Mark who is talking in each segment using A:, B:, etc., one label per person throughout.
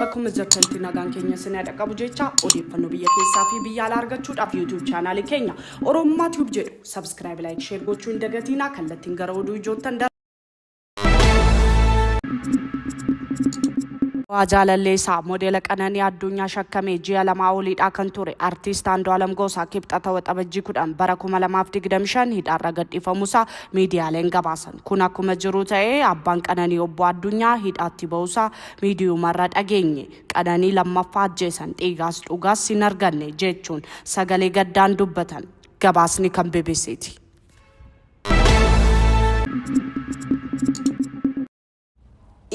A: akkuma jirtantu nagaan keenya sinaa dhaqqabu jecha odeeffannoo biyya keessaa fi biyya alaa argachuudhaaf YouTube chaanaalii keenya Oromummaa Tube jedhu subscribe like share gochuu hin dagatinaa kallattiin gara oduu ijoottan Waa jaalallee isaa modeela Qananii Addunyaa shakkamee ji'a lamaa oliidhaa kan ture Artiist Andu'aalam Goosaa Kibxata Waxabajjii 10 bara 2025 hidhaarra gadhiifamuusaa miidiyaaleen gabaasan. Kun akkuma jiru ta'ee abbaan Qananii Obbo Addunyaa hidhaatti ba'uusaa miidiyumarra dhageenye. Qananii lammaffaa ajjeesan dhiigaas dhugaas hin arganne jechuun sagalee gaddaan dubbatan. Gabaasni kan BBCti.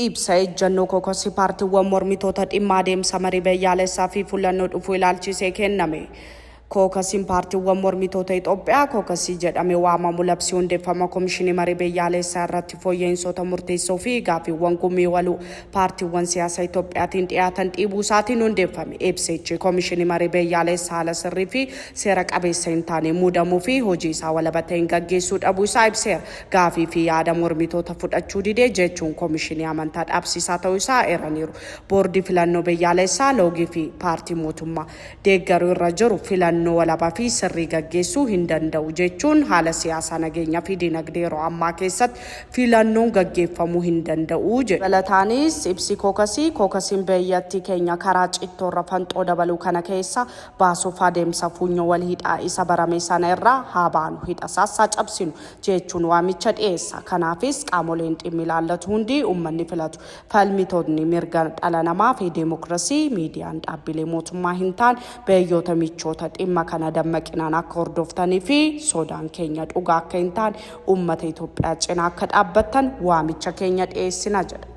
A: Ibsa ejjannoo kookasii paartiiwwan mormitoota dhimma adeemsa marii biyyaalessaa fi fullannoo dhufuu ilaalchisee kenname. Kookasiin paartiiwwan mormitoota Itoophiyaa kookasii jedhame waamamu labsii hundeeffama komishinii marii biyyaalessaa irratti fooyya'insoota murteessoo fi gaaffiiwwan gumii waluu paartiiwwan siyaasa Itoophiyaatiin dhiyaatan dhiibuu isaatiin hundeeffame. Ibsichi Komishinii Marii Biyyaaleessa haala sirrii fi seera qabeessa hin taaneen muudamuu fi hojii isaa walaba ta'een gaggeessuu dhabuu isaa ibseera. Gaafii fi yaada mormitoota fudhachuu dide jechuun komishinii amantaa dhaabsiisaa ta'uu isaa eeraniiru. Boordii Filannoo Biyyaaleessaa, loogii fi paartii mootummaa. deeggaru irra jiru filannoo walaba fi sirrii gaggeessuu hin danda'u jechuun haala siyaasaa, nageenya fi dinagdee yeroo ammaa keessatti filannoon gaggeeffamuu hin danda'u jedhu. Dabalataanis ibsi kookasii, kookasiin biyyattii keenya karaa cittoo irra fanxoo dabaluu kana keessaa baasuuf adeemsa fuunyoo wal hidhaa isa barame sana irraa haa baanu, hidha isaas haa cabsinu jechuun waamicha dhiyeessa. Kanaafis qaamoleen dhimmi ilaallatu hundi, uummanni filatu. Falmitootni mirga dhala namaa fi deemokirasii, miidiyaan dhaabbilee mootummaa hin taane, biyyoota michoota dhimma kana dammaqinaan akka hordoftanii fi sodaan keenya dhugaa akka hin taane uummata Itoophiyaa cinaa akka dhaabbattan waamicha keenya dhiyeessina jedha.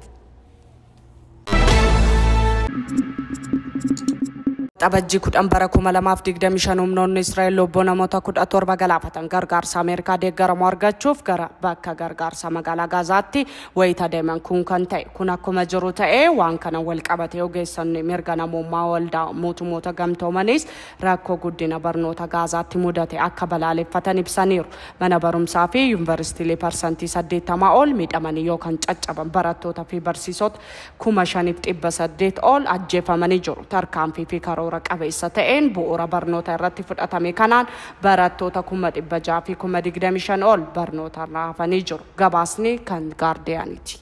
A: Waxabajjii 10 bara 2025 humnoonni Israa'el lubbuu namoota 17 galaafatan gargaarsa Ameerikaa deeggaramu argachuuf gara bakka gargaarsaa magaalaa Gaazaatti Wayita deeman kun kan ta'e. Kun akkuma jiru ta'ee waan kana wal qabatee ogeessonni mirga namoomaa waldaa mootumoota gamtoomaniis rakkoo guddina barnoota Gaazaatti mudate akka balaaleffatan ibsaniiru. Mana barumsaa fi yunvaristiilee parsantii 80 ol miidhamanii yookan caccaban, barattoota fi barsiisota 5,800 ol ajjeefamanii jiru. Tarkaanfii fi karoora qabeessa ta'een bu'uura barnoota irratti fudhatame kanaan barattoota 600,000 fi 25,000 ol barnootarraa hafanii jiru. Gabaasni kan Gaardiyaaniiti.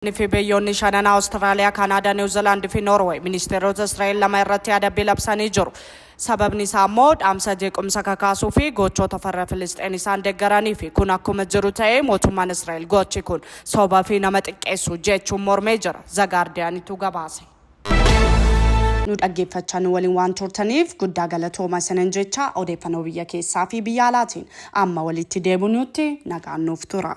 A: Iraan fi biyyoonni shanan Awustiraaliyaa, Kaanaadaa, Niiw Ziilaand fi Noorweey ministeerota Israa'el lama irratti adabbii labsanii jiru. Sababni isaa ammoo dhaamsa jeequmsa kakaasuu fi gochoota farra Filisxeen isaan deggaraniifi. Kun akkuma jiru ta'ee mootummaan Israa'el gochi kun soba fi nama xiqqeessu jechuun mormee jira. Zagaardiyaanitu gabaase. Nu dhaggeeffachaa nu waliin waan turtaniif guddaa galatooma isinan jecha odeeffannoo biyya keessaa fi biyya alaatiin amma walitti deebinuutti nagaan nuuf tura.